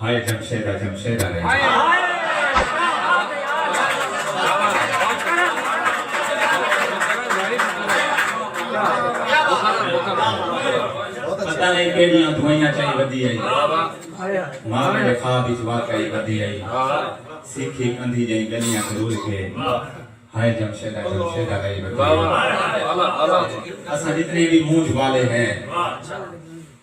ہائے جمشیدہ جمشیدہ ہے۔ پتہ نئیں کیڑیاں دوائیاں چائی ودی ہئی۔ ماں میڈے خواب وچ واقعی ودی ہئی۔ سیکھی کندھی جئیں گلیاں چ رول کے۔ ہائے جمشیدہ جمشیدہ گئی ودی ہئی۔ اساں جتنے وی مونجھ والے ہیں۔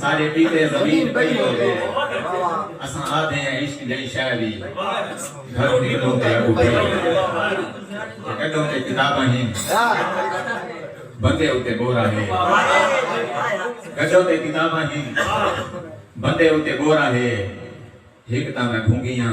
سارے پیتے زمین پئی ہو گئے اساں آدھے ہیں عشق جڑی شے وی گھر نکلوں تے اگو پئی ہو گئے کڈوں تے کتاباں ہیں بندے اتے بورا ہے گڈوں تے کتاباں ہیں بندے اتے بورا ہے ہک تاں میں بھونگیاں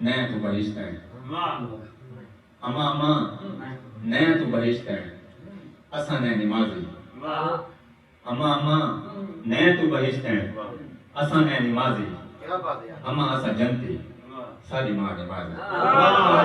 نیں توں بہشت ہیں اماں اماں نیں توں بہشت ہیں اساں نیں نمازی اماں اماں نیں توں بہشت ہیں اساں نیں نمازی اماں اساں جنتی ساری ماں نمازی